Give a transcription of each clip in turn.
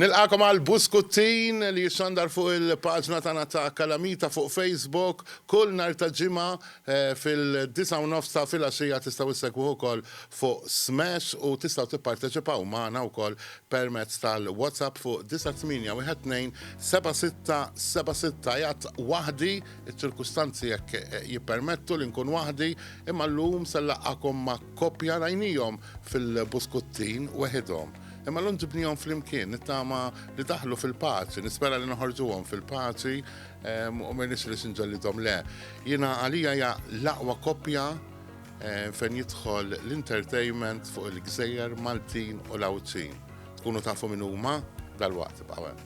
Nilqagħkom għal Buskuttin li jixxandar fuq il-paġna tagħna ta' Kalamita fuq Facebook kull nhar ta' Ġimgħa fil-disgħa u nofs ta' filgħaxija. Tistgħu issegwuh ukoll fuq Smash u tistgħu tipparteċipaw magħna wkoll permezz tal-WhatsApp fuq 98127676. Qiegħed waħdi, iċ-ċirkustanzi hekk jippermettu li nkun waħdi, imma llum se nlaqgħakom ma' Koppja rajnihom fil-buskuttin weħidhom, imma llum ġibnihom flimkien, nittama li daħlu fil-paċi, nispera li noħorġuhom fil-paċi u ma jnexxilix inġellidhom le. Jiena għalija hija l-aqwa koppja fejn jidħol l-entertainment fuq il-gżejjer Maltin u l-Għawdxin. Tkunu tafu min huma dalwaqt ibqgħu hemm.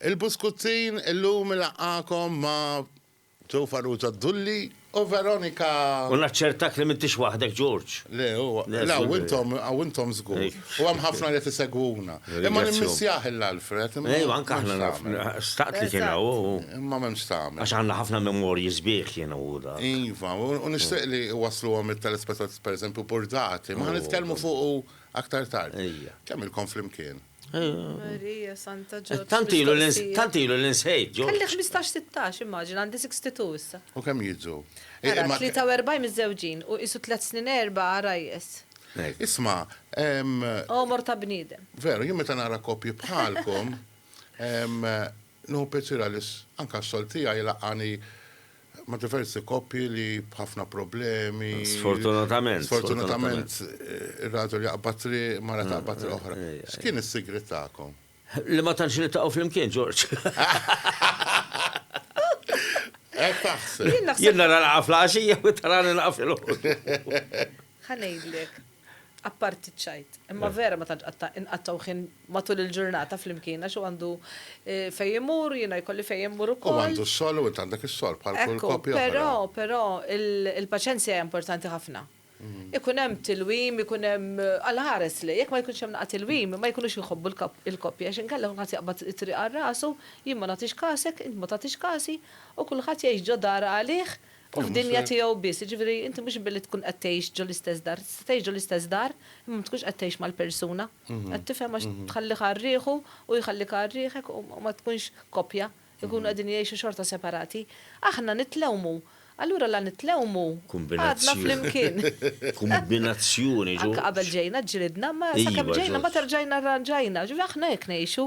Il-Buskuzzin illum ilaqgħakom ma' Joe Farrugia Dulli u Veronica. U naċċertak li m'intix waħdek, George. Le, huwa. Le, hawn intom, hawn intom żgur. U hemm ħafna li qed isegwuna. Imma nimmissjah il-Alfred. Ejwa, anke aħna naf. Staqt li kien hawn u. Imma m'hemmx tagħmel. Għax għandna ħafna memorji sbieħ jien u hu dak. Iva, u nixtieq li iwassluhom it-telespettaturi, pereżempju, burdati. Ma ħa nitkellmu fuqu aktar tard. Ejja. Kemm ilkom flimkien? Marija Santa Ġorġ. Tantilu tantilu l-insejt ġo. Kelli 15-16 immaġina għandi 62 issa. U kemm jidżu? 43 miżżewġin u qisu tliet snin erba' għarajjes. Isma'. Għomor ta' bniedem. Veru, jien meta nara koppji bħalkom. Inhu piċir għaliex anke x-xogħol tiegħi jlaqqagħni ma' diversi koppji li b'ħafna problemi. Sfortunatament. Sfortunatament ir-raġel jaqbad triq, il-mara taqbad triq oħra. X'kien is-sigriet tagħkom? Li ma tantx niltaqgħu flimkien, George. Hekk taħseb? Jien nara laqgħa fl-għaxija u inti tarani laqgħa filgħodu. Ħa ngħidlek. Apparti ċ-ċajt. Imma vera ma tantx qatta' inqattgħu ħin matul il-ġurnata flimkien għax hu għandu eh, fejn imur, jiena jkolli fejn immur ukoll. U għandu s-sol u int għandek is-sol bħal kull koppja. Però, però il-paċenzja hija importanti ħafna. Mm. Ikun hemm tilwim, ikun hemm eh, għal ħares li jekk ma jkunx hemm naqgħa tilwim, ma jkunux jħobbu l-koppja għax inkella kulħadd jaqbad it-triq għal rasu, jien ma nagħtix kasek, int ma tagħtix kasi, u kulħadd jgħix ġo dar għalih u f'dinja tiegħu biss. Jiġifieri inti mhux billi tkun qed tgħix ġo l-istess dar, tista' tgħix ġo l-istess dar imma ma tkunx qed tgħix mal-persuna. Qed tifhem għax tħallih għal riħu u jħallik għal riħek u ma tkunx koppja, ikunu qegħdin jgħixu xorta separati. Aħna nitlewmu, allura la nitlewmu, għadna flimkien. Kumbinazzjoni. Anke qabel ġejna ġġilidna, imma sakemm ġejna mbagħad erġajna rranġajna, ġifieri aħna hekk ngħixu.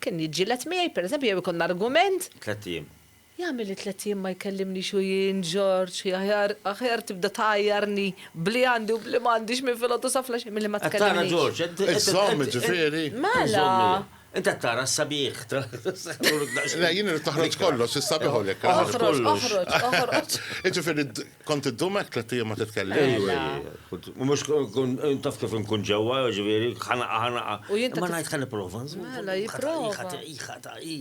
Kien jiġġieled miegħi, pereżempju, jew ikollna argument. Tlett ijiem. Jagħmel li tlett ijiem ma jkellimnix u jien, Ġorġ, aħjar, aħjar tibda tgħajjarni b'li għandi u b'li m'għandix minn filgħodu sa flaxija milli ma tkellimnix. Qed tara, Ġorġ, qed, qed, Iżżomm, jiġifieri. Mela! Int qed tara s-sabiħ ta', Le, jien irrid noħroġ kollox, is-sabiħ u l-ikraħ. Oħroġ, oħroġ, oħroġ. Jiġifieri, Kont iddum hekk tliet ijiem ma titkellimx? Ejju, ejju. U mhux kun taf kif inkun ġewwa, jiġifieri, ħanaqa, ħanaqa. Imma ngħid ħa nipprova nżomm. Mela, jipprova. Hi ħa ta' hi,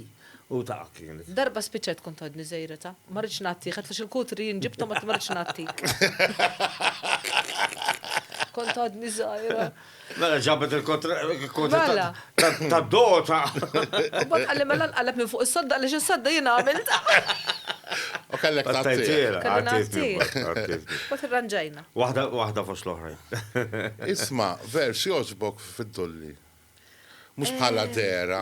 u ta' kienet. Darba spiċċajt kont għadni żejreta. Ma ridtx ngħattih, għad fiex il-kutri jien ġibthom għad ma ridtx ngħattik. Kont għadni żgħira. Mela ġabet il-kontra Mela. ta' ta' dota. U bat għalli mela nqalleb minn fuq is-sodda għaliex is-sodda jien għamilt. U kellek tagħtih. Għattajtila, Kelli għattajtni, nagħtih. għattajtni. Bat irranġajna. Waħda, waħda fost l-oħrajn. Isma', vers jogħġbok fid-dulli. Mhux bħala dehra.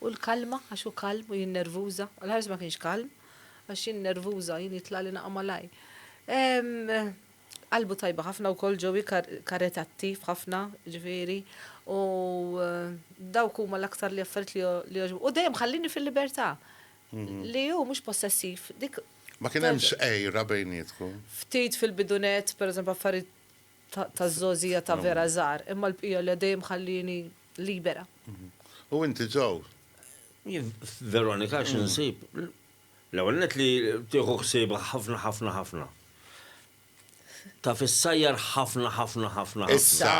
U l-kalma, għax hu kalm u jien nervuża. L-ħares ma kienx kalm, għax jien nervuża, jien jitlagħli naqa' malajr. Qalbu tajba ħafna wkoll Joey, karitattiv ħafna, ġifieri, u dawk huma l-aktar li affarijiet li jogħġbu. U dejjem ħallini fil-libertà. Li hu mhux possessiv. Ma kien hemm xejra bejnietkom? Ftit fil-bidu nett, pereżempju affarijiet taż-żgħożija ta' vera żgħar, imma l-bqija le dejjem ħallieni libera. U inti ġaw? Jien f'Veronika xi nsib? L-ewwel nett li tieħu ħsiebha ħafna ħafna ħafna. Taf issajjar ħafna ħafna ħafna ħafna. Issa.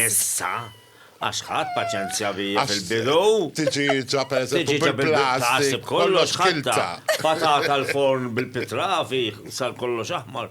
Issa. Għax ħadt paċenzja bija fil-bidu. Tiġieġa pereżempju bil-plastik. Taħseb kollox ħaddha. Patata l-forn bil-pitrafi sar kollox aħmar.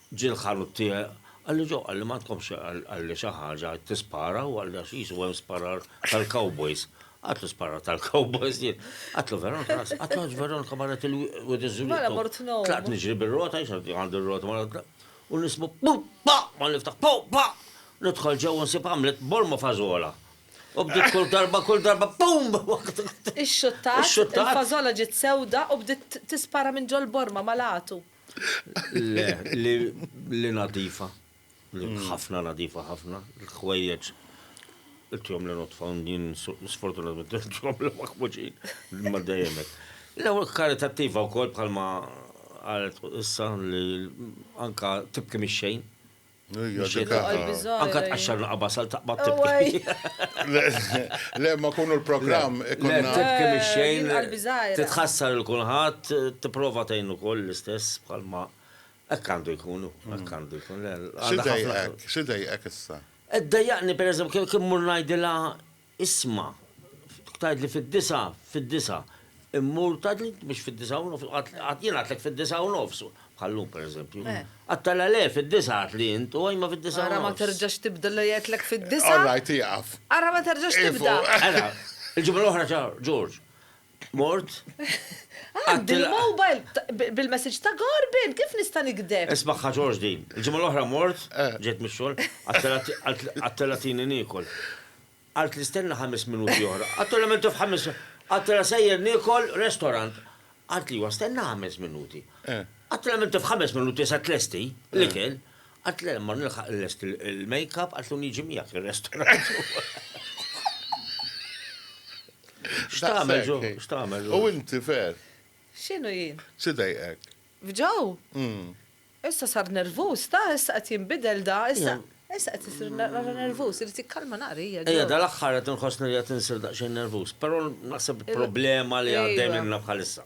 Ġie l-ħanut tiegħi, qalli Joe, qalli m'għandkomx, qalli xi ħaġa, tispara? Hu qalli għax qisu hemm sparar tal-cowboys. Għadtlu sparar tal-cowboys jien. Għadtlu Veronika, għadtlu għax Veronika marret il-wied iż-żuliet. Mela mort ngħum. Tlaqt niġri bir-rota, għax għandi r-rota mela u nismu pum pa! Malli niftaħ pum pa! Nidħol ġew u nsib għamlet bolma fażola. U bdiet kull darba, kull darba pum! Ixxuttat, il-fażola ġiet sewda u bdiet tispara minn ġol-borma mal-għatu. Le, li nadifa, li mm. ħafna nadifa ħafna, l-ħwejjeġ il-tjom li notfaw din sfortunatament il-tjom li maħmuġin, ma dajemek. Le, karitattiva u kol bħalma għalet issa li anka tibki mixxejn, Anka tqaxxar naqa basal taqba tibki. Le, ma kunu l-programm ikonna. Tibki mix-xejn. Titħassar il-kulħadd, tipprova tgħin ukoll l-istess bħalma hekk għandu jkunu, hekk għandu jkun. Xidejqek, xidejqek issa. Ddejjaqni pereżempju kien mur ngħidilha Isma', tgħidli fid-disgħa, fid-disgħa, immur tgħidli mhux fid-disgħa u nofs, qatt jien għadtlek fid-disgħa u nofs, bħal llum pereżempju. Qatt tgħidilha le fid-disgħa għadtli int u ajma fid-disgħa u nofs. Ara ma terġax tibda li għedtlek fid-disgħa. All right, ieqaf. Ara ma terġax tibda. Ara, il-ġimgħa l-oħra ġa George. Mort. Għad bil-mobile bil-message ta' Gorbin, kif nista' nikdeb? Ismagħha Ġorġ din. Il-ġimgħa l-oħra mort, ġejt mix-xogħol, għadtilha tini niekol. Qaltli stenna ħames minuti oħra. Għadtilha m'inti f'ħames. Għadtilha sejjer niekol restorant. Qaltli iwa stenna ħames minuti. Għadtilha m'inti f'ħames minuti se tlesti l-ikel. Għad le ma nilħaq nlest il-makeup għatlu niġi miegħek ir-restorant. X'tagħmel ġo? X'tagħmel ġo? U inti fer? X'inhu jien? Sidejqek. F'ġew? Hmm. Issa sar nervuż, ta' issa qed jinbidel da, issa issa qed isir nara nervuż, irid jikkalma naqra hija. Ejja, dal-aħħar qed inħossni li qed insir daqsxejn nervuż, però naħseb problema li għaddej minna bħalissa.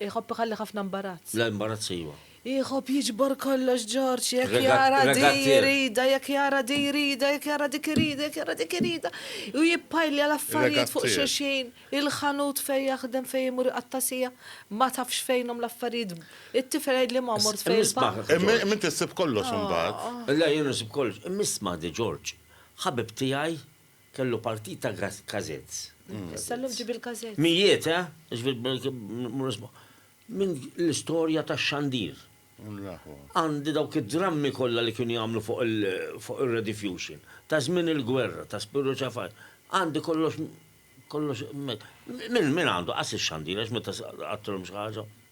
Iħobb iħalli ħafna mbarazz. La imbarazz iva. Iħobb jiġbor kollox Ġorġ, jekk jara di jrida, jekk jara di jrida, jekk jara dik irida, jekk jara dik irida. U jippajlja l-affarijiet fuq xulxin, il-ħanut fejn jaħdem fejn imur iqattasija, ma tafx fejnhom l-affarijiet. It-tifel jgħidli ma mort fejn il-baħħ. Imma inti ssib kollox imbagħad. Le jien nsib kollox. Imma isma' di Ġorġ, ħabib tiegħi Kellu partit ta' kazetz. Issa llum ġib il-kazetz. Mijiet, eh? Minn l-istorja tax-xandir. Għandi dawk id-drammi kollha li kienu jagħmlu fuq ir-rediffusion. Ta' żmien il-gwerra, ta' Spirru Ċafaj. Għandi kollox, kollox. Min għandu? Qas ix-xandir għax meta qattgħulhom xi ħaġa.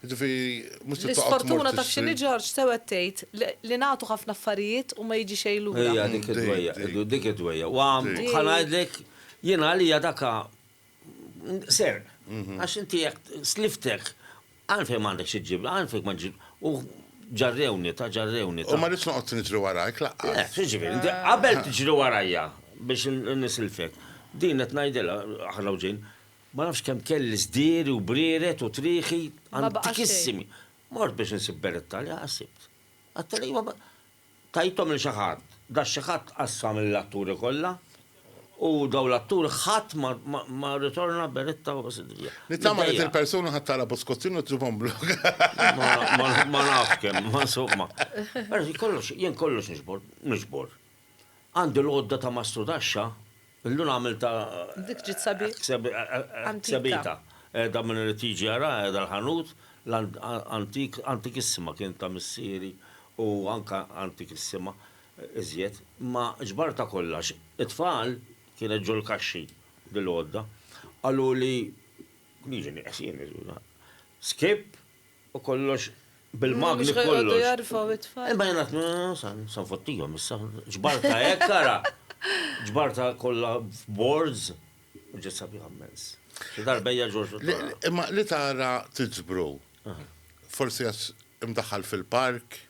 Jiġifieri mhux se toqgħod tmur tixtri. L-isfortuna taf x'inhi Ġorġ, sew qed tgħid, li nagħtu ħafna affarijiet u ma jiġi xejn lura. Hija dik id-dwejjaq, dik id-dwejjaq. Wa ħa ngħidlek, jiena għalija dak serq. Għax inti jekk sliftek, għalfejn m'għandek xi ġġib, għalfejn ma ġġib. U ġarrewni, ta' ġarrewni. U ma rridx noqgħod niġri warajk laqqas. Le, x'jiġifieri, inti qabel tiġri warajja biex nisilfek. Din qed ngħidilha, aħna u ġejn, Ma nafx kemm kelli sdiri u brieret u trieħi antikissimi. Mort biex insib beretta li ha sibt. Għadtha li iva, tajthom lil xi ħadd. Dak xi ħadd qassam lill-atturi kollha u dawn l-atturi ħadd ma rritorna beretta u sidrija. Nittama li dil-persuna ħa tara Boscozzini u tġibhom blog. Ma nafx kemm, ma nsomma. Ara, kollox, jien kollox niġbor, niġbor. Għandi l-għodda ta' mastru taxxa, illum għamiltha. Dik ġiet sabiħa. Sabiħa. Qiegħda min irid jiġi jaraha qiegħda l-ħanut, antik, antikissima kienet ta' missieri u anke antikissima iżjed. Imma ġbartha kollha għax it-tfal, kienet ġol-kaxxi dil-għodda, qaluli, niġi nieqes jien, skipp, U kollox bil-magni kollox. Mhux ħajqogħdu jarfgħu it-tfal. Imma jien qed sa nfottihom issa. Ġbarta hekk ara. Ġbarta kollha boards. U ġiet sabiħa mmens. Xi darba hija Ġorġ. Imma li tara tiġbru. Forsi għax imdaħħal fil-park.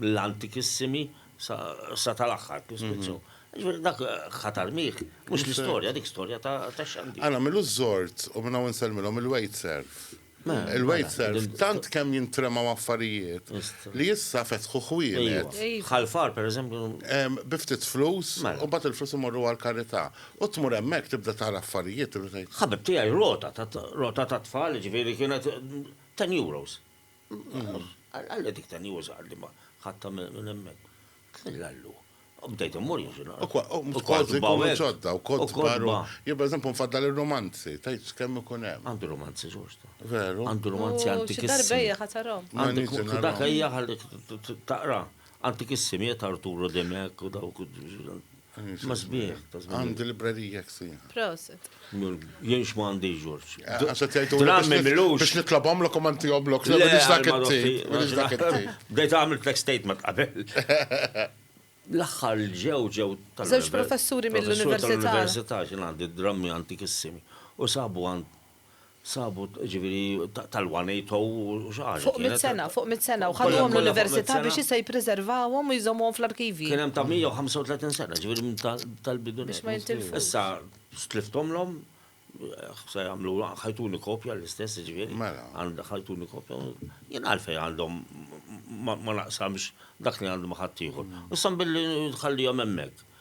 mill-antikissimi sa tal-aħħar krusifizzju. Jiġifieri dak ħatar miegh, mhux l-istorja, dik storja ta' xandir. Għan għamilu ż-żord u minn hawn insellmilhom il-waitserv. Il-waitserv tant kemm jintremgħu affarijiet li issa fetħu ħwienet. Ħal Far pereżempju. Bi ftit flus u mbagħad il-flus imorru għall-karità. U tmur hemmhekk tibda tara affarijiet tibda tgħid. Ħabib tiegħi rota, rota tat-tfal jiġifieri kienet ten euros. Għalli dik ta' New Zealand ma ħatta minn hemmhekk. Għallu. Bdejt immur jinxina. U kważi jkunu ġodda, u kont baru. Jien per eżempju nfaddal ir-romanzi, tajt kemm ikun hemm. Għandu romanzi ġosta. Veru. Għandu romanzi antikissimi. Għandu darbejja ħatarom. Għandu dak ejja taqra. Antikissimi jett Arturo Demek u dawk. Ma sbieħ. Għandi librerija ksija. Proset. Jien xma għandi ġorġ. Eh, Għaxet jajtu għammi milux. Biex nitlabom l komanti għoblok. Biex dak it-tip. Bdejt għamil tlek statement qabel. L-axħar ġew ġew tal Zewġ professuri mill-Università. Mill-Università ġin għandi drammi antikissimi. U sabu għand sabu, ġiviri, tal-180 u xaħġa. Fuq mit sena, fuq mit sena, u ħadhom l-università biex jista jipreservawom u jżommuhom fl-arkivji. Kienem ta' 135 sena, ġiviri, tal-bidu. Biex ma jintilfux. Issa, stliftom l-om, se jamlu, ħajtuni kopja l-istess, ġiviri. Mela. Għanda ħajtuni kopja. Jien għalfej għandhom ma naqsamx dak li għandhom ħattijħor. Issa billi nħallijom emmek.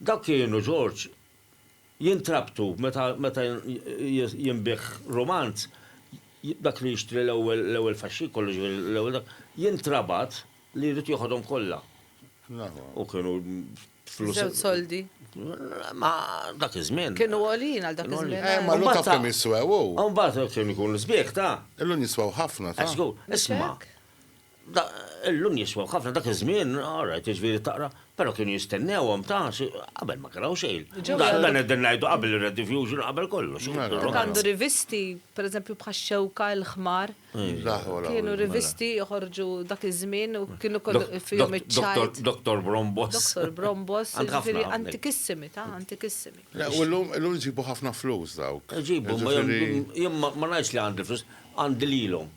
Dawk kienu, Ġorġ, jintrabtu meta meta jinbiegħ rumanz, dak li jixtri l-ewwel l-ewwel faxxikolu, ġifieri l-ewwel dak, jintrabat li jrid jiħodhom kollha. U kienu flus. Żewġ soldi. Ma dak iż-żmien. Kienu għoljin għal dak iż-żmien. Eh, ma l-lum taf kemm jiswew. Imbagħad kien ikun l-isbieħ ta'. Illum jiswew ħafna ta'. Isma'. Illum jiswew ħafna, dak iż-żmien, all right, jiġifieri taqra, però kienu jistennewhom ta' xi, qabel ma kien hawn xejn. Dan qegħdin ngħidu qabel ir-rediffusion, qabel kollox. Kien għandu rivisti, pereżempju bħax-Xewka, il-Ħmar. Kienu rivisti joħorġu dak iż-żmien u kienu fihom iċ-ċajt. Doktor Brombos. Doktor Brombos, jiġifieri antikissimi, ta' antikissimi. U llum isibu ħafna flus dawk. Iġibu, ma ngħidx li għandi l-flus, għandi lilhom.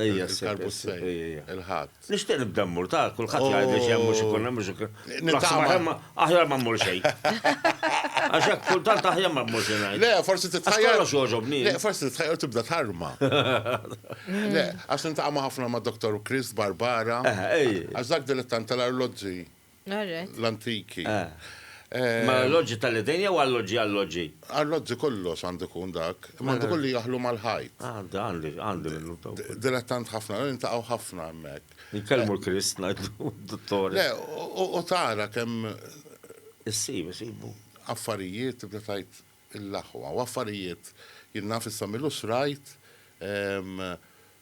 Ejja, il-karbu s-sej, il-ħadd. Nixtieq nibda mmur ta' kulħadd jgħid li xemm mhux ikun hemm mhux ikun. Nitama. Aħjar ma mmur xejn. Għax hekk kultant aħjar ma mmur xejn. Le, forsi titħajjar. Għax joġobni. Le, forsi titħajjar tibda tarma. Le, għax nintaqgħu ħafna ma' Dr. Chris Barbara. Għax dak dilettant tal-arloġġi. L-antiki. Ma l-alloġġi tal-idejn jew alloġġi alloġġi? Alloġġi kollox għandu jkun dak, imma għandu jkun li jaħlu mal-ħajt. Għandi, għandi, għandi minnu taw. Dilettant ħafna, nintaqgħu ħafna hemmhekk. Inkellmu l-Krist ngħidu d-dottore. Le, u tara kemm. Issib, isibu. Affarijiet tibda tgħid il-aħwa, u affarijiet jien naf issa mill-usrajt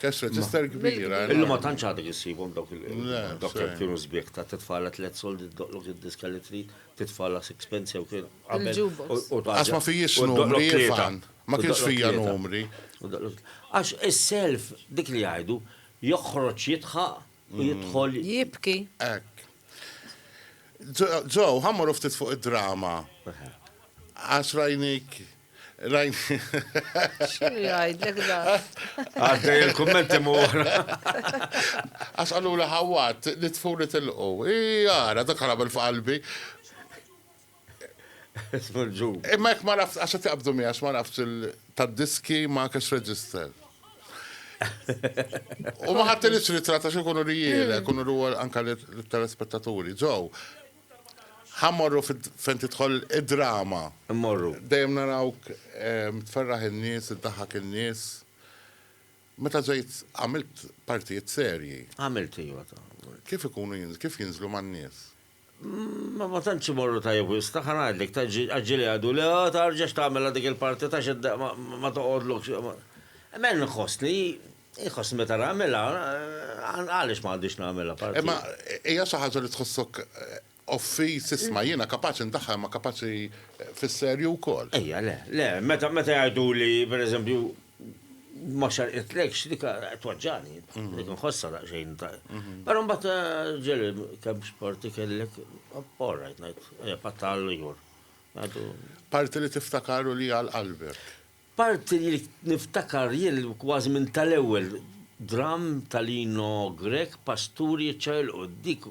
Cash register kbira. Illum ma tantx għadek issibhom dawk il-dawk li kienu sbieħ ta' titfala tliet soldi doqlok id-diska li trid, titfala sixpence jew kien qabel. Għax ma fijiex numri fan, ma kienx fija numri. Għax is-self dik li jgħidu joħroġ jitħaq u jidħol. Jibki. Hekk. Ġew, ħammru ftit fuq id-drama. Għax rajnik X'inhu jgħidlek dan? Għaddej il-kummenti mura. Għax qaluli ħawwat li tfuri tilqu. Jara, dak ħarab il-f'qalbi. Ismu l-ġub. Imma jekk ma nafx, għax qed jaqbdu miegħek ma nafx tad-diski ma cash register. U ma ħadd li ritratta xi kunu rijele, kunu ruwa anka l-telespettaturi. Ġew, Ħa mmorru fejn tidħol id-drama. Immorru. Dejjem narawk tferraħ in-nies, iddaħħak in-nies. Meta ġejt għamilt partijiet serji. Għamilt, iva. Kif ikunu, kif jinżlu man-nies? Ma tantx imorru tajjeb wisq, ħa ngħidlek, tgħaġġilha għadu, le tarġax tagħmilha dik il-parti ta' xi ma toqgħodlokx. Imma jien inħossni. Iħossni meta nagħmilha, għaliex ma għandix nagħmilha parti. Imma hija xi ħaġa li tħossok offiż, isma' jiena kapaċi ndaħħal ma kapaċi fis-serju wkoll. Ejja le, le, meta jgħiduli pereżempju ma xerqitlex dik tweġġagħni, dik inħossha daqsxejn. Però mbagħad ġieli kemm sporti kellek, all right ngħid, ejja pattal jur. Parti li tiftakaru li għal qalbek. Parti li niftakar jien kważi minn tal-ewwel dramm ta' Lino Grech, Pasturi jiċċaqilqu. Dik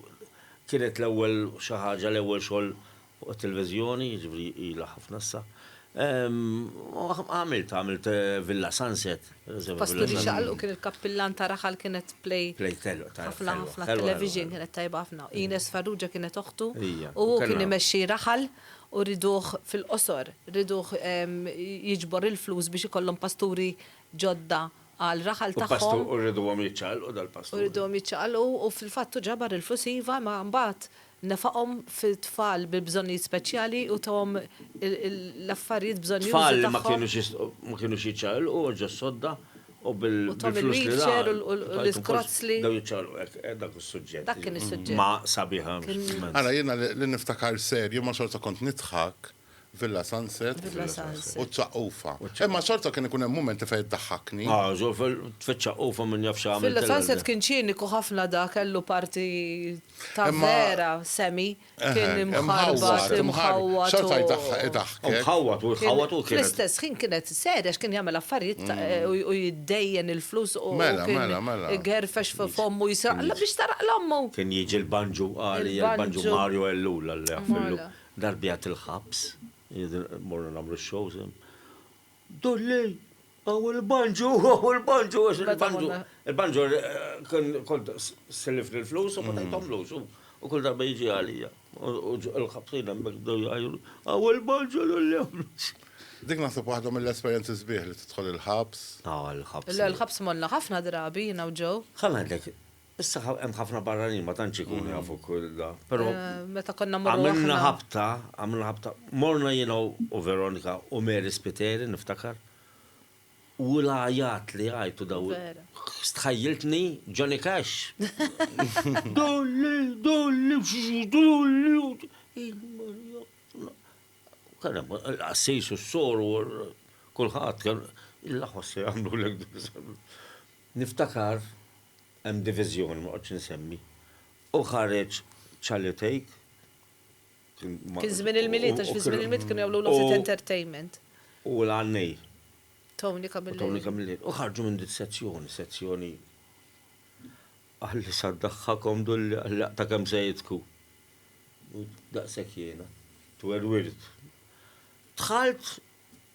kienet l-ewwel xi ħaġa, l-ewwel xogħol fuq it-televiżjoni, jiġifieri ilha ħafna issa. Għamiltha, għamilt Villa Sunset. Pasturi jiċċaqilqu kien il-kappillan ta' Raħal kienet play. Play telq ta' Raħal. Ħafna ħafna television kienet tajba ħafna. Ines Farrugia kienet oħtu. Ija. U hu kien imexxi Raħal. U rriduh fil-qosor, rriduh jiġbor il-flus biex ikollhom pasturi ġodda għal raħal tagħhom. U rriduhom jiċċaqalqu dal-pasturi. U rriduhom jiċċaqalqu u fil-fatt hu ġabar il-flus iva imma mbagħad nefaqhom fit-tfal bi bżonnijiet speċjali u tahom l-affarijiet bżonnjużi tagħhom. Tfal li ma kinux jistgħu ma kinux jiċċaqalqu ġo sodda U bil-flus li ra. U l-iskrazz li. Dawn iċċaqlqu hekk, dak hu s-suġġett. Dak kien is-suġġett. Ma sabiħa. Ara jiena li niftakar sew, jien ma xorta kont nidħak, Villa Sunset. Villa Sunset. U ċ-ċaqufa. Imma xorta kien ikun hemm mumenti fejn iddaħħakni. Ah, żgur fiċ-ċaqufa min jaf x'għamilt. Villa Sunset kien ċiniku ħafna dak, kellu parti ta' vera semi. kien imħarbat, imħawwad. Xorta jdaħħek. Imħawwad u jħawwad u kien. Fl-istess ħin kienet seri għax kien jagħmel affarijiet u jiddejjen il-flus u kien igerfex fi fommu jisraqla biex taraq l-ommu. Kien jiġi l-banju qari, l-banju Mario Ellul, Alla jaħfirlu. Darbiet il-ħabs, morna nagħmlu x-shows hemm. Dulli, hawn il-banjo, hawn il-banjo, għax il-banjo, il-banjo kont sellifni l-flus u ma tajthomlux u kull darba jiġi għalija. U l-ħabsin hemmhekk bdew jgħajru, hawn il-banjo dulli. Dik naħseb waħda mill-esperjenzi sbieħ li tidħol il-ħabs. Aw il-ħabs. Le l-ħabs morna ħafna drabi jiena u Joe. Ħa ngħidlek, Issa hemm ħafna barranin ma tantx ikunu jafu Kullda, però. Meta konna mmorru aħna. Għamilna ħabta, għamilna ħabta. Morna jiena u Veronika u Mary Spiteri niftakar. U l-għajat li għajtu daw. Vera. Stħajjiltni Johnny Cash. Dolli, dolli, dolli. Kien hemm il-qassis u s-sor u kulħadd kien il-laħos se jagħmlu l-ek Niftakar, hemm diviżjoni, ma noqgħodx insemmi, u ħareġ Charlie Take, kien ma. Kien żmien il-Milied għax fi żmien il-Milied kienu jagħmlu Lost It Entertainment. U l-għannej. Tony Camilleri. U Tony Camilleri. U ħarġu minn dik sezzjoni, sezzjoni qalli sa ddaħħakhom dulli qalli aqta' kemm se jidhku. U daqshekk jiena twerwirt. Dħalt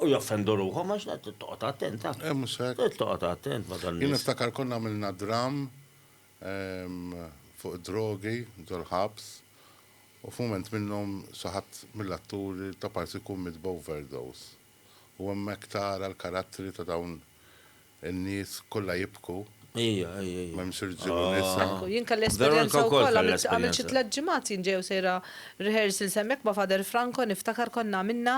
U joffendu ruħhom għax da trid toqgħod attent ha. Eh mhux hekk. Trid toqgħod attent ma' dan. Jien niftakar konna għamilna dramm fuq id-drogi ġol-ħabs u f'mument minnhom xi ħadd mill-atturi ta' parti jkun miet b'overdose. U hemmhekk tara l-karattri ta' dawn In-nies kollha jibku. Ejja, ejja, ejja. M'hemmx irġiel u nisa. Aw. Jien kelli esperjenza wkoll, għamilt xi tliet ġimgħat jien ġejja u sejra rehearsals hemmhekk ma' Father Franco niftakar konna għamilna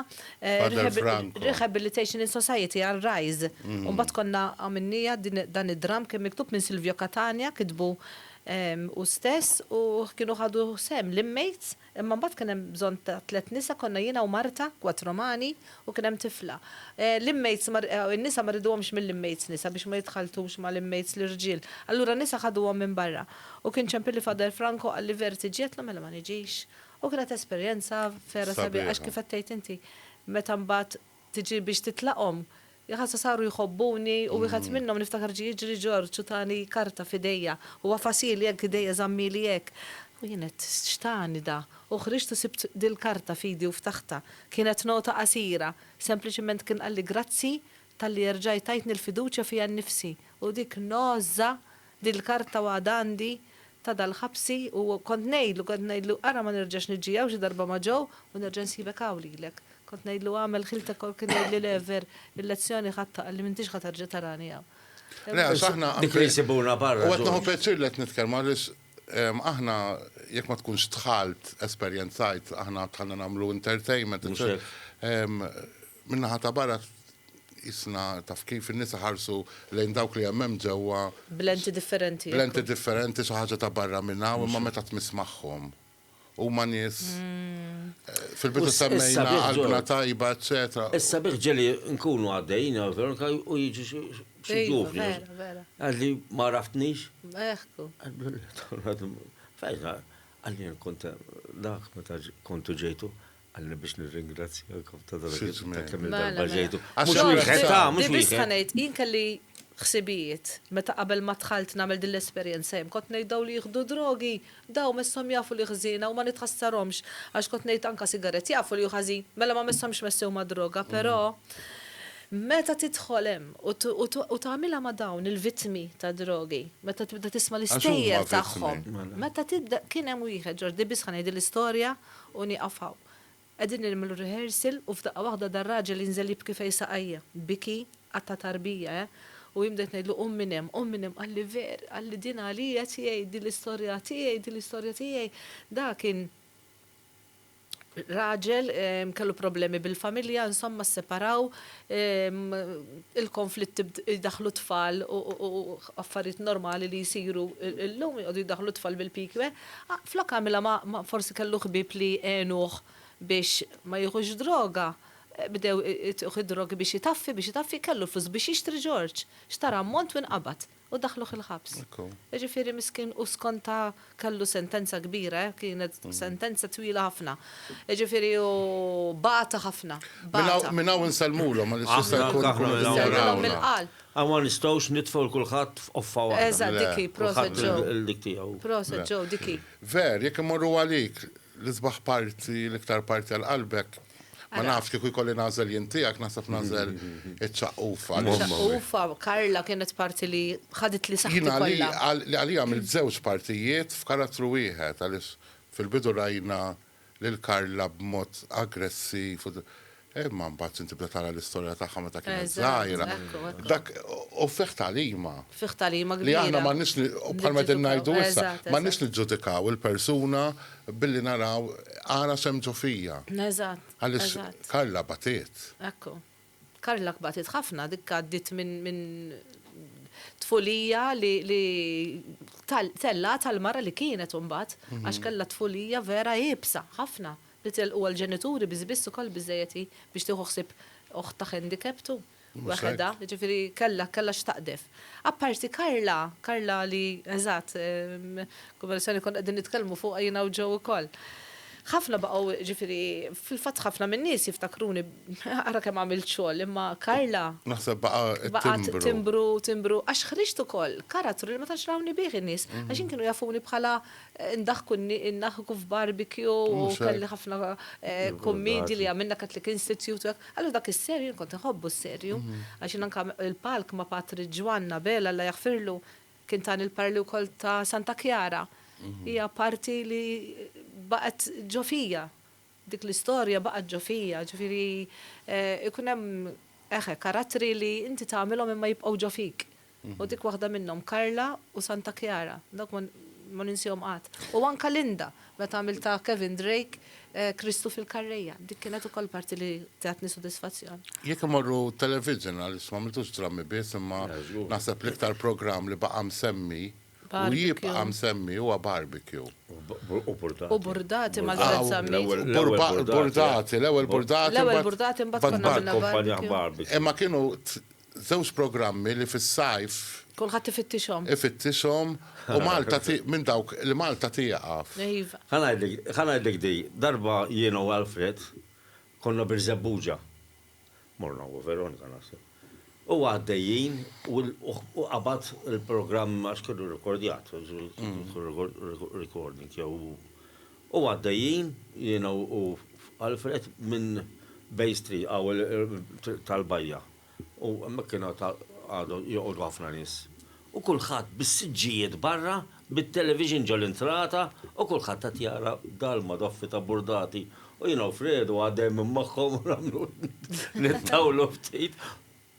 rehabilitation in society għal Rise. U mbagħad konna għamilniha dan id-dramm kien miktub minn Silvio Catania, kitbu hu stess u kienu ħadu sehem l-inmates. Imma mbagħad kien hemm bżonn ta' tliet nisa, konna jiena u Marta, quattro mani, u kien hemm tifla. L-inmates ma, in-nisa ma riduhomx mill-inmates nisa biex ma jidħaltux mal-inmates l-irġiel. Allura n-nisa ħaduhom minn barra. U kien ċempilli Father Franco qalli Ver tiġi? Għedtlu mela ma niġix. U kienet esperjenza vera sabiħa għax kif qed tgħid inti meta mbagħad Tiġi biex titlaqhom? Jaħasha saru jħobbuni u wieħed minnhom niftakar ġie jiġri Ġorġ u tani karta f'idejja. U għafashieli hekk b'idejja żammieli hekk. U jien għedt, x'tani da? U ħriġt u sibt dil-karta f'idi u ftaħtha. Kienet nota qasira. Sempliċiment kien qalli grazzi talli erġajt tajtni l-fiduċja fija nnifsi. U dik nogħża Din il-karta għadha għandi ta' dal-ħabsi u kont ngħidlu, kont ngħidlu, ara ma nerġax niġi hawn xi darba ma' Joe u nerġa' nsibek hawn lilek. Kont ngħidlu agħmel ħiltek hawn kien jgħidli le ver il-lezzjoni ħadtha qalli m'intix ħa terġa' tarani hawn. Le għax aħna Dik li jsibuna barra George. U qed nieħu pjaċir li qed nitkellmu għaliex aħna jekk ma tkunx dħalt esperjenzajt aħna dħalna nagħmlu entertainment eċċetera Min-naħa ta' barra qisna taf kif, in-nisa ħarsu lejn dawk li hemm hemm ġewwa. B'lenti differenti. B'lenti differenti, xi ħaġa ta' barra minn hawn, imma meta tmiss magħhom. Huma nies. Fil-bidu semmejna qalbna tajba, eċċetera. Is-sabiħ ġieli nkunu għaddejjin hawn Veronika u jiġu xi ġuvni. Ejja, vera, vera. Għadli ma għraftnix. Eħku. Għadli, fejn, għadli kont dak meta kontu ġejtu. Għalli biex nirringrazzjakom ta' dak il-kemm mela, darba mela. ġejtu. Mhux wieħed ta' mhux wieħed. Biss ħanejt, jien kelli ħsibijiet meta qabel ma dħalt nagħmel din l-esperjenza hemm kont ngħid dawn li jieħdu drogi daw messhom jafu li ħżiena u ma nitħassarhomx għax kont ngħid anke sigaret jafu li hu ħażin mela ma messhomx messew ma' droga però Meta tidħol hemm u tagħmilha ma' dawn il-vittmi ta' drogi, meta tibda tisma' l-istejjer tagħhom. Mela. Meta tibda kien hemm wieħed Ġordi biss ħanejd l-istorja U nieqaf hawn. Qegħdin nilmlu r-rehearsal u f'daqqa waħda dar-raġel jinżel jibki fejn saqajja. Biki, qatt ta' tarbija, eh! U jien bdejt ngħidlu qum minn hemm, qum minn hemm, qalli ver, qalli din għalija qed jgħid, din l-istorja tiegħi, din l-istorja tiegħi. Dak kien raġel, kellu problemi bil-familja, insomma sseparaw, il-konflitti jdaħħlu t-tfal u affarijiet normali li jsiru llum joqogħdu jdaħħlu t-tfal bil-pikwe. Flok għamilha ma' forsi kellu ħbieb li għenuh biex ma jieħux droga, bdew ituh id-drogi biex itaffi, biex itaffi, kellu l-flus biex jixtri Ġorġ. Xtara ammont u inqabad. u daħħluh il-ħabs. Jiġifieri miskin hu skonta kellu sentenza kbira, kienet sentenza twila ħafna. Jiġifieri hu bata ħafna. Minn hawn insellmulhom għaliex jista' jkun ikunu jistgħu mill-qalb. Hawn ma nistgħux nitfgħu lil kulħadd f'qoffa waħda. Eżatt dik hi, proset ġo. Il-dik tiegħu. Proset ġo, dik hi. Ver, jekk imorru għalik, l-isbaħ parti, l-iktar parti għal qalbek, Ma nafx kieku jkolli nażel jien tiegħek naħseb nażel iċ-ċaqqufa. Ċaqqufa, Karla kienet parti li ħadet li saħħa. Jiena li għalija għamil żewġ partijiet f'karattru wieħed għaliex fil-bidu rajna lil Karla b'mod aggressiv. Imma mbagħad inti bda tara l-istorja tagħha meta kienet żgħira. Dak u fih talima. Fih talima kbira. Li aħna m'għandniex bħalma din ngħidu issa, m'għandniex niġġudikaw il-persuna Billi naraw ara semtu fija. Eżatt, eżatt. Karla batiet. Ekku. Karla batiet ħafna, dik għaddiet minn tfulija li tellgħet għall-mara li kienet imbagħad għax kellha tfulija vera iebsa ħafna li telquha l-ġenituri biss biss ukoll biżżejjed hi biex tieħu ħsieb oħtha handicapped u. Waħedha, jiġifieri kellha kellha x'taqdef. Apparti Karla, Karla li eżatt, kombinazzjoni konna qegħdin nitkellmu fuqha jiena u Joe ukoll. Ħafna baqgħu jiġifieri fil-fatt ħafna min-nies jiftakruni ara kemm għamilt xogħol imma Karla. Naħseb baqa' timbru. Baqgħet timbru, timbru għax ħriġt ukoll karattru li ma tantx rawni bih in-nies għax jien kienu jafuni bħala Indaħku indaħku f'barbecue u kelli ħafna kummedji li għamilna Catholic Institute u hekk. Allura dak is-serju jien kont inħobbu s-serju għax jien anke il-palk ma' Patri Ġwann Abela Alla jaħfirlu kien tani l-paroli wkoll ta' Santa Chiara. Hija parti li baqgħet ġo fija. Dik l-istorja baqgħet ġo fija, ġifieri jkun hemm eħe karattri li inti tagħmilhom imma jibqgħu ġo fik. U dik waħda minnhom Karla u Santa Kjara, dawk ma ninsihom qatt. U anke Linda, meta għamiltha Kevin Drake, Kristu fil-Karrejja, dik kienet ukoll parti li tatni sodisfazzjon. Jekk immorru television, għaliex m'għamiltux drammi biss, imma naħseb l-iktar programm li baqa' msemmi U jibqa' msemmi huwa barbecue. U burdati. U burdati ma' żewġ sammit. Burdati, l-ewwel burdati. L-ewwel burdati mbagħad barbecue. Barbecue. Imma kienu żewġ programmi li fis-sajf. Kulħadd ifittixhom. Ifittixhom u Malta minn dawk li Malta tieqaf. Iva. Ħa ngħidlek, ħa ngħidlek di, darba jiena u Alfred konna Birżebbuġa. morna u Veronika naħseb, u għaddejjin u qabad il-programm għax kellu rekordjat, recording jew u għaddejjin jiena u Alfred minn Bay Street għaw tal-bajja u hemmhekk kienu għadu joqogħdu ħafna nies u kulħadd bis-siġġijiet barra, bit-television ġol-intrata u kulħadd qed jara dalma doffi ta' burdati u jiena u Fredu għadejn minn magħhom u nagħmlu nittawlu ftit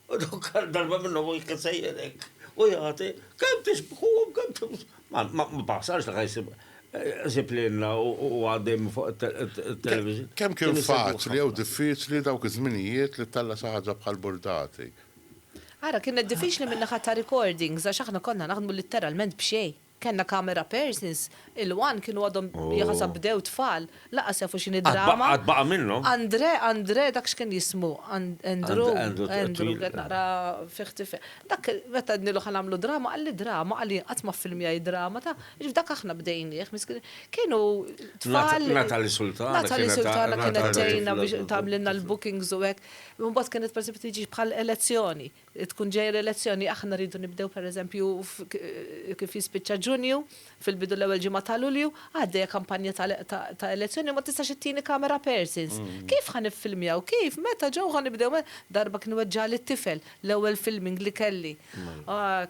u dawk darba minnhom wieħed kien sejjer hekk u jagħti, kemm tixbħuhom, kemm tixbħuhom. Ma ma baħsarx li ħajsib sib lilna u għaddej minn fuq it-television. Kemm kien faċli jew diffiċli dawk iż-żminijiet li ttella' xi ħaġa bħal burdati Ara, kienet diffiċli min-naħa ta' recordings għax aħna konna naħdmu litteralment b'xejn. Kellna camera persons, il-one kienu għadhom jaħasab bdew tfal, lanqas jafu x'inhi drama. Għad baqa' minnhom. Andre, Andre, dak x'kien jismu? Andrew, Andrew, qed naqra fih tifel. Dak meta għednilu ħa nagħmlu drama, qalli drama, qal jien qatt ma ffilmjajt drama, ta'. Jiġifieri dak aħna bdejnieh, miskinin. Kienu tfal. Natalie Sultana kienet tgħinna. Natalie Sultana kienet tgħinna biex tagħmlilna l-bookings u hekk. Imbagħad kienet pereżempju tiġi bħal elezzjoni, tkun ġejja l-elezzjoni aħna rridu nibdew pereżempju kif jispiċċa Ġunju, fil-bidu l-ewwel ġimgħa ta' Lulju, għaddejja kampanja ta' elezzjoni u ma tistax ittieni camera persons. Kif ħa niffilmjaw? Kif? Meta? Ġew? Ħa nibdew? Darba kien weġġagħli t-tifel, l-ewwel filming li kelli.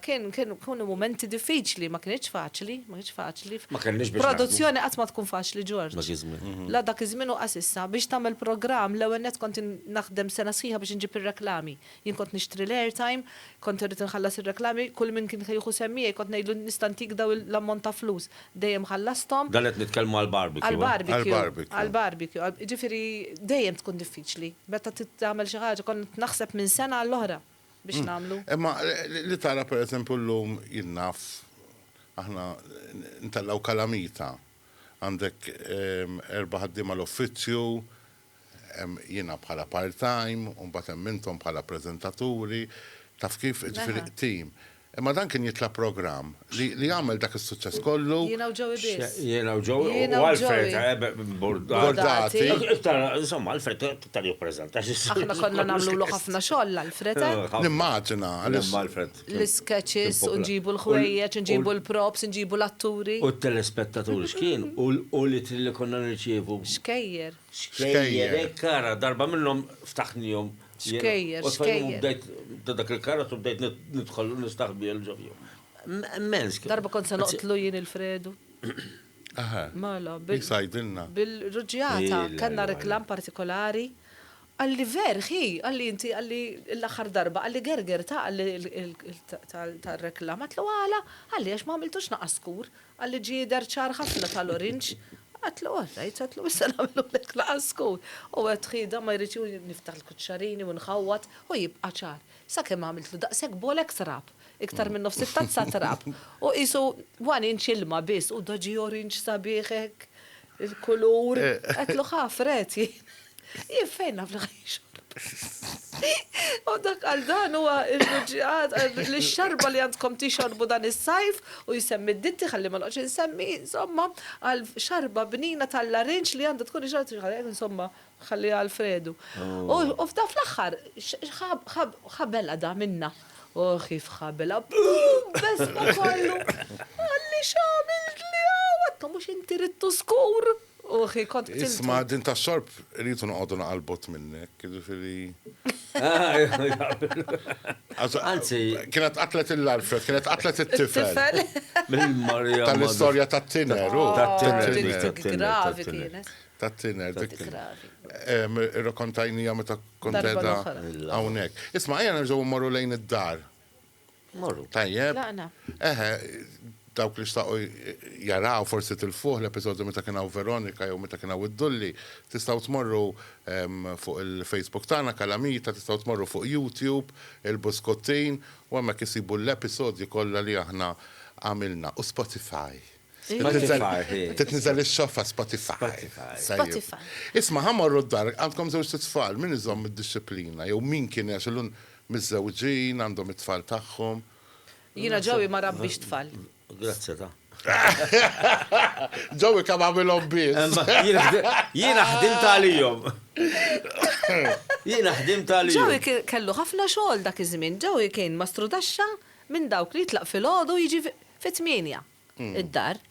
Kien kienu mumenti diffiċli, ma kienx faċli, ma kienx faċli. Ma kellniex biex. Produzzjoni qatt ma tkun faċli Ġorġ. Dak iż-żmien. La dak iż-żmien u qas issa. Biex tagħmel programm l-ewwel nett kont naħdem sena sħiħa biex inġib ir-reklami. Jien kont nixtri l-airtime, kont irrid inħallas ir-reklami, kull min kien jieħu sehem miegħi kont ngħidlu nista' ntik dawn l-ammont ta' flus. Dejjem ħallasthom. Dan qed nitkellmu għall-barbecue. Għall-barbecue. Għall-barbecue. Jiġifieri dejjem tkun diffiċli. Meta tagħmel xi ħaġa kont naħseb minn sena għall-oħra. biex nagħmlu. Imma li tara pereżempju llum jien naf aħna ntellgħu kalamita. Għandek erba' ħaddiema l-uffizzju, hemm jiena bħala part-time, u mbagħad hemm intom bħala preżentaturi, taf kif, jiġifieri tim. Imma dan kien jitla' programm li għamel dak is-suċċess kollu. Jiena u Joey biss. Jiena u Joey u Alfred Bordati. Insomma, Alfred iktar jippreżenta. Aħna konna nagħmlulu ħafna xogħol l-Alfred. Nimmaġina. L-isketches u nġibu l-ħwejjeġ, nġibu l-props, nġibu l-atturi. U t-telespettaturi x'kien u l-ittri li konna nirċievu. Xkejjer. Xkejjer. Hekk ara, darba minnhom ftaħnihom Xkejjer, xkejjer. Bdejt ta' dak il-karozz u bdejt nidħol nistaħbi għal ġofju. Mens. Darba kont se noqtlu jien il-Fredu. Aha. Mela, bil. Sajdilna. Bil-ruġjata, kellna reklam partikolari. Għalli ver, hi, għalli inti, għalli l-axar darba, għalli gerger ta' għalli tal-reklam. Għatlu għala, għalli għax ma' għamiltux naqaskur. Qalli ġider ċar ħafna tal-orinġ. Għedtlu oħda, jgħid għedtlu issa nagħmlulek laqgħa skur. U għedt ħieda ma jridx u niftaħ il-kuċċarini u nħawwad u jibqa' ċar. Sakemm għamiltlu daqshekk bolek trab, iktar minn nofs it-tazza trab. U qisu one inch ilma biss u da ġie orinġ sabiħ hekk. Il-kulur. Għedtlu ħafr, għedt jien. Jien fejn naf li U dak għal dan huwa il-ruġġiqat li xarba li għandkom tixorbu dan is-sajf u jsemmi d-ditti ħalli ma noqgħodx insemmi, insomma, għal xarba bnina tal-larinġ li għandha tkun ixorb insomma, Ħalliha għal Fredu. U f'dan fl-aħħar, x'ħabel għadha minnha. O kif ħabelha. Buum! B'esma kollu. Qalli x'għamiltli hawn? Għadtu mhux inti ridtu skur. U hi kont qtiltu. Isma' din tax-xorb irridu noqogħdu naqal bott minnek, jiġifieri. Anzi. Kienet qatlet lil Alfred, kienet qatlet it-tifel. It-tifel. Mill-Marija. Tal-istorja tat-tiner. Tat-tiner. Gravi kienet. ta' tiner dik. Irrokontajnija meta kont edha hawnhekk. Isma' ejja nerġgħu mmorru lejn id-dar. Morru. Tajjeb. Eħe, dawk li xtaqu jaraw forsi tilfuħ l-episodju meta kien hawn Veronika jew meta kien hawn id-Dulli, tistgħu tmorru fuq il-Facebook tagħna Kalamita, tistgħu tmorru fuq YouTube, il-Buskottin, u hemmhekk issibu l-episodji kollha li aħna għamilna, u Spotify. Titniżel ix-xoffa Spotify. Spotify. Isma' ħamorru d-dar, għandkom żewġ tfal, min iżomm id-disciplina jew min kien għax illum miżżewġin għandhom it-tfal tagħhom. Jiena Joey ma rabbix tfal. Grazzi ta'. Joey kemm għamilhom biss. Jiena ħdimt għalihom. Jiena ħdimt għalihom. Joey kellu ħafna xogħol dak iż-żmien. Joey kien ma strudaxxa minn dawk li jitlaq filgħodu jiġi fit-tmienja. id-dar.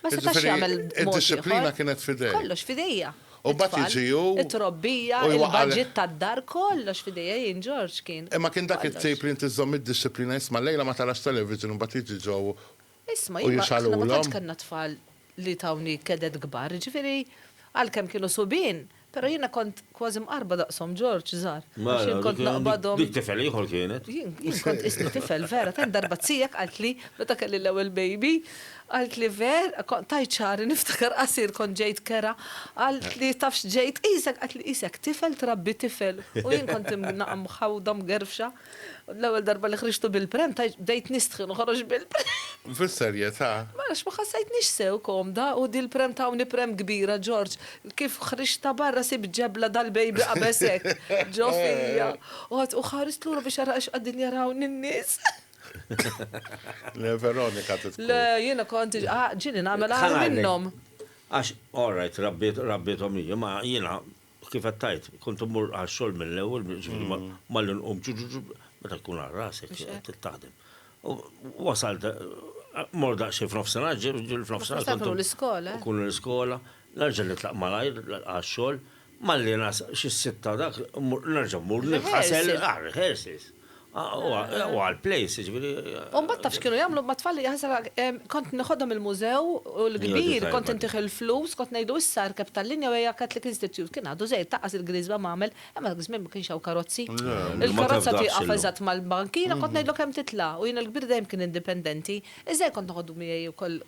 Ma setax jagħmel Id-disciplina kienet fidej. Kollox fidejja. U bat jiġiju. It-trobbija, il-budget tad-dar, kollox fidejja jien Ġorġ kien. Imma kien dak it-tip li inti żżomm id-disciplina isma' llejla ma tarax television u mbagħad jiġi Joe u jixgħalulhom. Isma' jiena aħna ma tantx kellna tfal li tawni keded kbar, jiġifieri għalkemm kienu subien, Però jiena kont kważi mqarrba daqshom, George, żgħar. Għax jien kont naqbadhom. Dik tifel ieħor kienet. Jien kont qisni tifel, vera, tant darba t-tiegħek qaltli, meta kelli l-ewwel baby, qaltli ver, tajt xagħri niftakar qasir kont ġejt kera, qaltli taf x'ġejt qisek, qaltli qisek tifel trabbi tifel u jien kont imnaqqa mħawda mgerfxa. U l-ewwel darba li ħriġtu bil-pram bdejt nistħi noħroġ bil-pram. Fis-serjetà? Ma nafx, ma ħassejtnix sew komda u din il-pram tawni pram kbira, Ġorġ. Kif ħriġtha barra sibt ġebla dal-baby qabeż hekk ġo fija. U għadt u ħarist lura biex ara għax qegħdin jarawni n-nies. Le Veronika tidħku. Le, jiena kont ġieli nagħmel agħar minnhom. Għax, all right, rabbiethom hi, imma jiena Kif qed tgħid, kont immur għax-xogħol mill-ewwel, ġifieri ma mm. li nqum meta tkun għal rasek qed taħdem. Wasal mor daqsxejn f'nofsinhar, ġil f'nofsinhar. Kont l-iskola. Eh? Kun l-iskola, nerġa' nitlaq malajr għax-xogħol, malli nas xi sitta dak, nerġa' mmur nifħasel għar-rehearsals. Huwa għall-plays, jiġifieri. U mbagħad taf x'kienu jagħmlu mat-tfal li jaħsel kont nieħodhom il-mużew u l-kbir kont intih il-flus, kont ngħidlu issa erkeb tal-linja u ejja Catholic Institute. Kien għadu żejjed taqqas il-griżba m'għamel, imma dak iż-żmien ma kienx hawn karozzi. Il-karozza tieqaf eżatt mal-bankina, kont ngħidlu kemm titla' u jien il-kbir dejjem kien indipendenti. Iż-żgħir kont noħodu miegħi wkoll.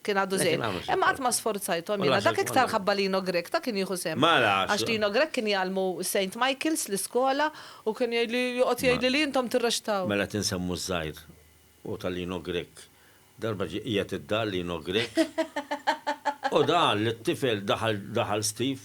Kien għadu żgħir. Imma qatt ma sforzajthom jiena. Dak iktar ħabba Lino Grech, ta' kien jieħu sehem. Għax Lino Grech kien jgħallmu Saint Michael's, l-iskola, u kien jgħidli, joqgħod jgħidli li intom tirrexxtaw. Mela qed insemmu ż-żgħir u ta' Lino Grech. Darba ġie qiegħed id-dar Lino Grech u da qal lit-tifel, daħal Steve.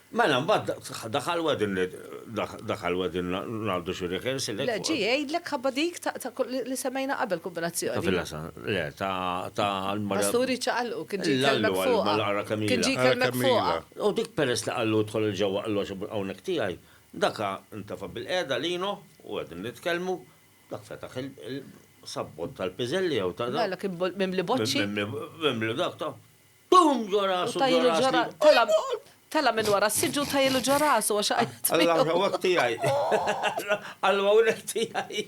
Mela mbagħad daħal wegħdin li daħal wegħdin ngħaddu xi rehearsal hekk. Le, ġie jgħidlek ħabba dik ta' li semmejna qabel kombinazzjoni. Ta' Villasa, le, ta' l-mara. Pasturi ċaqalqu, kien ġie jkellmek fuqha. L-għara kemm ilha. Kien ġie jkellmek fuqha. U dik peress li qallu idħol 'il ġewwa qallu għax hawnhekk tiegħi, dak intefa' bil-qiegħda Lino u qegħdin nitkellmu, dak fetaħ il-sabbott tal-piżelli jew ta' dak. Mela kien mimli boċċi. Mimli dak ta'. Bum ġo rasu, ġo rasu. U tajjelu ġo rasu. Tela' minn wara s-siġġu u tajjelu ġo rasu għax għajt. Alla hawnhekk tiegħi. Alla hawnhekk tiegħi.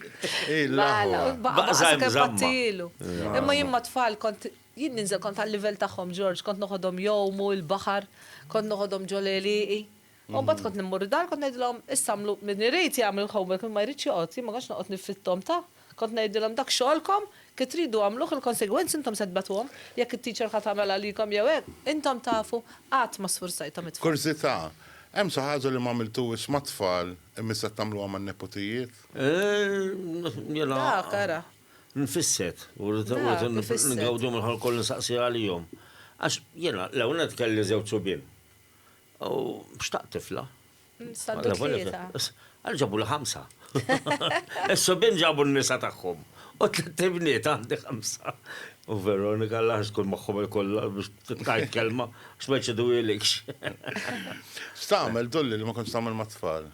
Mela, baqa' sakemm battijielu. Imma jien mat-tfal kont, jien ninżel kont għal-livell tagħhom George, kont noħodhom jgħumu l-baħar, kont noħodhom ġo l-għelieqi. U mbagħad kont immur id-dar kont ngħidilhom issa għamlu min irid jagħmel il-homework min ma jridx joqgħod, jien ma kontx noqgħod nifritthom ta', kont ngħidilhom dak xogħolkom kif tridu għamluh il-konsegwenzi intom se tbatuhom, jekk it-teacher ħa tagħmel għalikom jew hekk, intom tafu, qatt ma sfurzajthom it-tfal. Kurżità, hemm xi ħaġa li m'għamiltuhiex mat-tfal imma issa tagħmluha man-neputijiet? Dak, ara. Nfisset, u rrid ingawdi mill-ħolqien kollu nsaqsi għalihom. Għax jiena l-ewwel nett kelli żewġ subien. U xtaqt tifla. Saldu tlieta. Għal ġabu li ħamsa. Is-subin ġabu n-nisa tagħhom. U tliet ibniet għandi ħamsa. U Veronika l ħax tkun magħhom il-kollha biex tajt kelma, x'ma jċidu ilikx. X'tagħmel tulli li ma kontx tagħmel mat-tfal?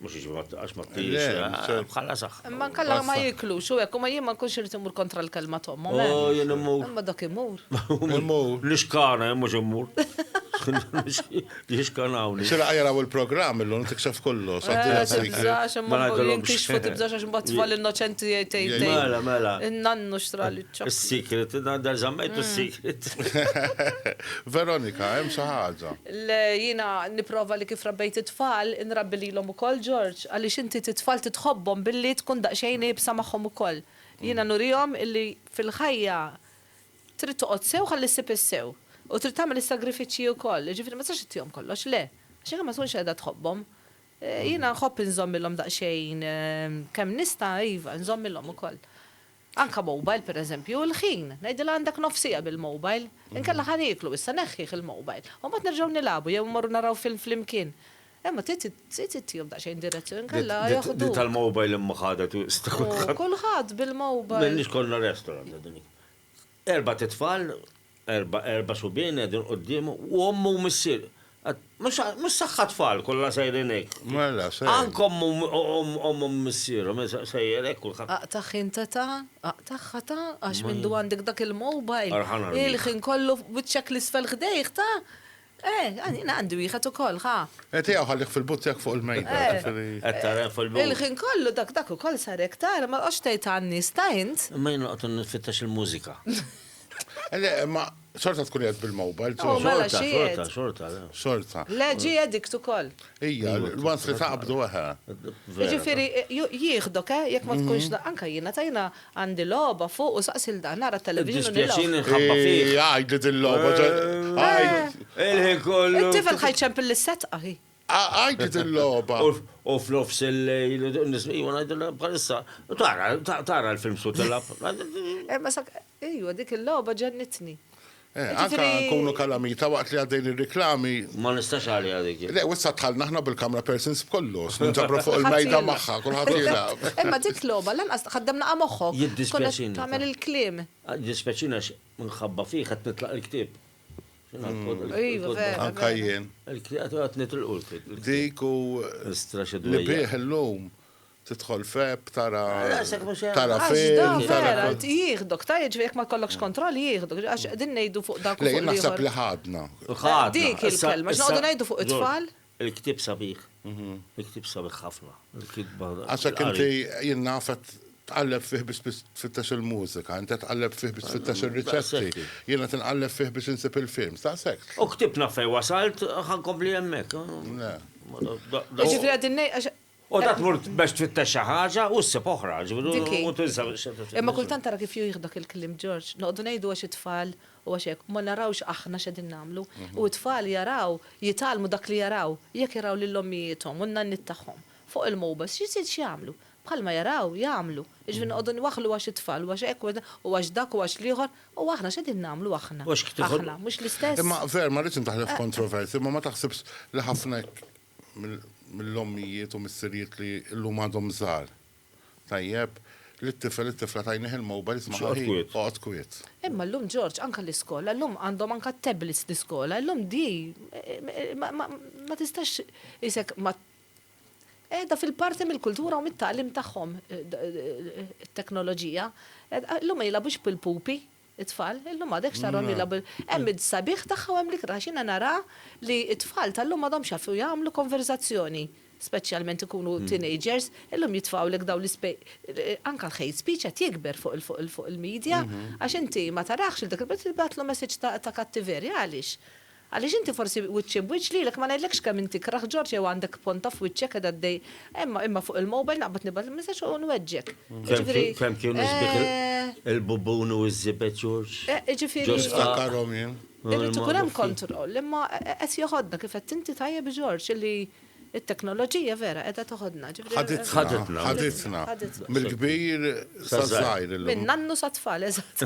Mux iġi għax ma t-tijiex. Eh, bħala saħ. Ma nkalla ma jiklu, xo ekku ma jimma nkun xirrit imur kontra l-kelma tom. Oh, eh. jien imur. Ma dak imur. Imur. Nixkana, eh, mux imur. Nixkanawni. Sira għajra u l-program illum tiksef kollu. Ma għadolom. Kixfu tibżax għax mbatt tfal innoċenti jtejt. Mela, mela. Nannu xtra li ċab. Secret, da zammajtu secret. Veronika, jem saħħaġa. L, Jiena nipprova li kif rabbejt it-tfal, inrabbi lilhom ukoll, George, għaliex inti t-tfal titħobbhom billi tkun daqsxejn iebsa magħhom ukoll. Jiena nurihom illi fil-ħajja trid toqgħod sew ħalli ssib is-sew. U trid tagħmel is-sagrifiċċji ukoll. Jiġifieri ma tistax ittihom kollox, le. Għax inkella ma tkunx qiegħda tħobbhom. Jiena nħobb inżommilhom daqsxejn, kemm nista', iva, inżommilhom ukoll. Anke mobile pereżempju, il-ħin, ngħidilha għandek nofs siegħa bil-mobile, inkella ħa nieklu issa, neħħih il-mobile. U mbagħad nerġgħu nilagħbu jew immorru naraw film flimkien. Imma trid trid ittihom daqsxejn direzzjoni inkella joħduk. Di tal-mobile imma ħadet wisq ta' kulħadd. Kulħadd bil-mobile. M'għandniex konna restaurant għadha dik. Erbat itfal. Erba' erba' subien qegħdin quddiemu u ommu u missier. Mhux saħħa tfal kollha sejrin hekk. Mela se. Anke ommu ommu missierhom sejjer hekk kulħadd. Aqtagħ int età, aqtagħ età għax mindu għandek dak il-mobile, il-ħin kollu wiċċek l-isfel ħdejh ta! Eh, għanina għandi wieħed ukoll, ħa. Eh, tiegħu ħallih fil-but tiegħek fuq il-mejda. Eh. Qed tara fil-but. Il-ħin kollu dak dak ukoll sar hekk tara ma tqgħodx tgħid għan-nies ta' int. Imma jien noqgħod nfittex il-mużika. Le, ma sorta tkun qed bil-mobile. Oh, mela xorta, xorta, xorta. Le ġi edikt ukoll. Ija, l-wans li taqbdu eħe. Ġifieri jieħdok, eh, jekk ma tkunx mhm. anka jiena tajna Għandi logħba fuq u saqsi 'l dan, nara t-television u nilgħu. Iddispjaċini nħabba fih. Eeh, għidli dil-logħba, għid. Il-ħin kollu. It-tifel ħa jċempel lis-setqa, hi. Għidli dil-logħba. U f'nofs il-lejl, iva ngħidilha bħalissa, tara, tara l-films u tilgħab. Imma sa, ejwa, dik il-logħba ġennitni. Eh, anka nkunu kalamita waqt li għaddejn ir-riklami. Ma nistax għalija dik. Le, wissa tħallna aħna bil-kamra persons b'kollox, ninġabru fuq il-mejda magħha, kulħadd jilgħab. Imma dik logħba lanqas ħaddem naqa' moħħok. Jiddispjaċini. Tagħmel il-kliem. Jiddispjaċini għax minħabba fih qed nitlaq il-ktieb. Anka jien. Qed nitilqu l-ktieb. Dik u. Li bih illum. Tidħol f'app, tara tara film, tara kont. Jieħdok, ta' jiġri jekk ma jkollokx kontroll jieħdok, għax qegħdin ngħidu fuq dak. Le, naħseb li ħadna. Ħadna. Dik il-kelma, xi noqogħdu ngħidu fuq it-tfal? Il-ktieb sabiħ. Il-ktieb sabiħ ħafna. Il-kitba. Għax hekk inti jien naf qed tqalleb fih biex tfittex il-mużika, inti tqalleb fih biex tfittex ir-riċetti. Jien qed inqalleb fih biex insib il-films, ta' sekk. U ktieb naf fejn wasalt, ħankompli hemmhekk. Le. Ġifieri qegħdin ngħid U ta' tmur biex tfittex xi ħaġa u ssib oħra, ġifieri u tinsa. Imma kultant tara kif jieħdok il-kliem Ġorġ, noqogħdu ngħidu għax it-tfal u għax hekk, ma narawx aħna x'qegħdin nagħmlu. U t-tfal jaraw, jitgħallmu dak li jaraw. Jekk jaraw lil ommijiethom u n-nanniet tagħhom fuq il-mowbajls, x'jżid x'jagħmlu? Bħalma jaraw, jagħmlu. Jiġifieri noqogħdu nwaħħlu għax it-tfal u għax hekk u għax dak u għax l-ieħor, u aħna x'qegħdin nagħmlu aħna? Aħna, mhux l-istess? Imma, Veer, ma rridx indaħħlek f'kontroversja, imma ma taħsibx li ħafna hekk mill-ommijiet u missirijiet li llum għadhom żgħar. Tajjeb, li t-tifel, it-tifla tajnih il-mobile jisma' ħaħi, oqgħod kwiet. Imma llum Ġorġ anke l-iskola, llum għandhom anke t-tablets l-iskola, llum di ma tistax isek ma qiegħda fil-parti mill-kultura u mit-tagħlim tagħhom it-teknoloġija. Llum ma jilgħabux bil-pupi. It-tfal illum għadekx tarhom jilgħabu. Hemm is-sabiħ tagħha u hemm l-ikrah għax jiena nara li t-tfal tal-lum m'għadhomx jafu jagħmlu konverżazzjoni, speċjalment ikunu teenagers, illum jitfgħulek dawn l-ispe anke l-hate speech qed jikber fuq il fuq il-media għax inti ma tarax lil dak il-bniedem tibgħatlu messaġġ ta' ta' kattiverja għaliex? Għaliex inti forsi wiċċi b'wiċċ lilek, ma ngħidlekx kemm inti ikrah George jew għandek ponta f'wiċċek qiegħda ddej, imma imma fuq il-mobile naqbad nibgħatlek messaġġ u nweġġek. Jiġifieri, Kemm kienu sbieħ eh, il-bubun u ż-żibed George? eh, jiġifieri, Ġo sqaq. Niftakarhom jien. irid ikun hemm kontroll, imma qed joħodna kif għedt inti tajjeb George, illi It-teknoloġija vera qiegħda teħodna, ġifieri. Ħaditna. Ħaditna. Ħaditna. Ħaditna. Mill-kbir saż-żgħir illum. Min-nannu sat-tfal, eżatt.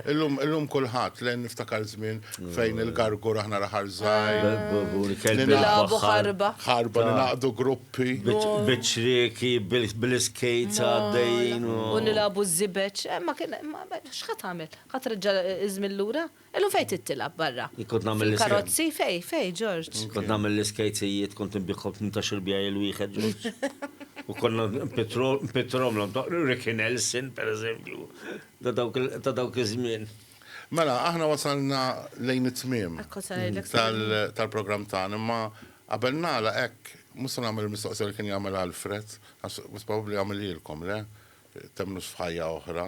Illum, illum kulħadd, le niftakar żmien fejn il-gargur aħna l-aħħar żgħir. Nilagħbu ħarba. Ħarba, ningħaqdu gruppi. Biċ-ċrieki, bil-iskejts għaddejjin. U nilagħbu ż-żibeġ. Ma kien, x'ħa tagħmel? Ħa treġġa' ż-żmien lura? Illum fejn trid tilgħab barra? Jien kont nagħmel l-iskejt. Fil-karozzi? Fejn, fejn, Ġorġ? Jien kont nagħmel l-iskejt sejjied, kont inbiegħhom b'tmintax-il bjagħel wieħed, Ġorġ. U konna npittrhomlhom ta' Ricky Nelson, pereżempju, ta' dawk iż-żmien. Mela, aħna wasalna lejn it-tmiem tal-programm tagħna, imma qabel nagħlaq hekk, mhux se nagħmel il-mistoqsija li kien jagħmilha Alfred, għax probabbli għamilhielkom, le? Temmnux f'ħajja oħra?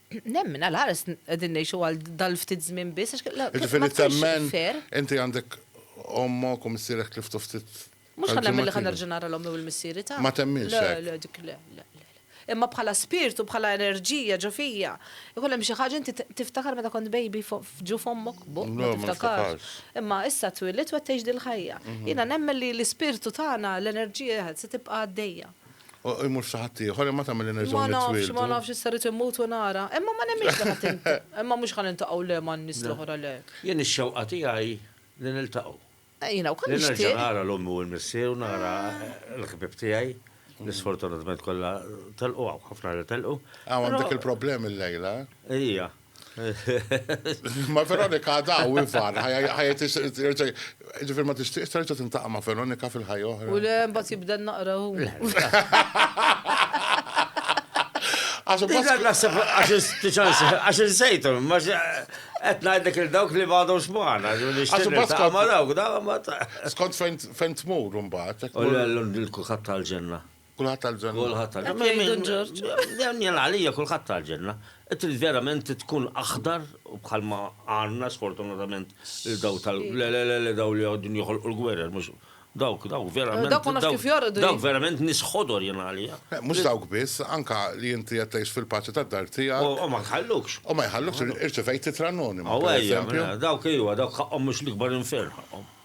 Nemmen, għal ħares qegħdin ngħixu għal dal-ftit żmien biss għax la Jiġifieri temmen inti għandek ommok u missierek tliftu ftit. Mhux ħa nemmen li ħa nerġa' nara l-ommi u l-missieri ta'. Ma temminx. Le, le, dik le, le, le. Imma bħala spirtu, bħala enerġija ġo fija, ikun hemm xi ħaġa inti tiftakar meta kont baby ġu f'ommok buq, ma tiftakarx. Imma issa twilid u qed tgħix dil-ħajja. Jiena nemmen li l-ispirtu tagħna, l-enerġija se tibqa' għaddejja. Imur saħat ieħor, imma tagħmel nerġgħu. Ma nafx, ma nafx issa rrid immut u nara. Imma ma nemmix li ħadd imma mhux ħan intaqgħu le ma' nies l-oħra le. Jien ix-xewqa tiegħi li niltaqgħu. Jiena wkoll nixtieq. Li nerġa' nara l-ommi u l-missier u nara l-ħbieb tiegħi li sfortunatament kollha telqu hawn ħafna li telqu. Hawn għandek il-problemi l-lejla. Ija. Ma Veronika daw ifar, ħajja terġa' ġifier ma tixtieqx terġa' tintaqa' ma' Veronika fil-ħajja oħra. U le mbagħad jibda naqra hu. Għax insejtu, ma qed ngħidlek il dawk li bgħadhom xmana, nixtieq ma dawk, Skont fejn tmur imbagħad. U l-kulħadd tal-ġenna. Kulħadd tal-ġenna. Kulħadd tal-ġenna. Hekk jgħidu Ġorġ. Jien għalija kulħadd tal-ġenna. Trid verament tkun aħdar bħalma għandna sfortunatament lil daw tal. Le, le, le, le, daw li għodin joħolqu l-gwerer, mhux. Dawk, dawk verament. Dawk ma nafx kif jorqdu. Dawk verament nies ħodor jien għalija. Mhux dawk biss, anke li inti qed tgħix fil-paċi tad-dar tiegħek. U ma jħallukx. U ma jħallukx, irċevejt ittra anonima. Aw ejja, dawk ejwa, dawk ħaqqhom mhux l-ikbar infern ħaqqhom.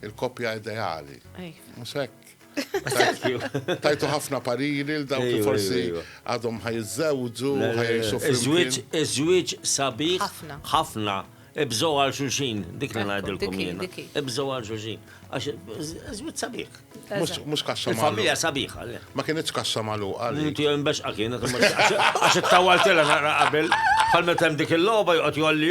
Il-koppja ideali. Mhux hekk. Tajtu ħafna pariri l dawk li forsi għadhom ħajżewġu, ħajxu fil-żwieġ. Iż-żwieġ sabiħ ħafna. Ibżgħu għal xulxin, dik li ngħidilkom jien. Ibżgħu għal xulxin. Għax iż-żwieġ sabiħ. Mhux kaxxa magħluqa. Familja sabiħa. Ma kienx kaxxa magħluqa. Inti hemm bex kienet għax ittawaltilha naqra qabel. Bħal meta hemm dik il-logħba joqgħod jolli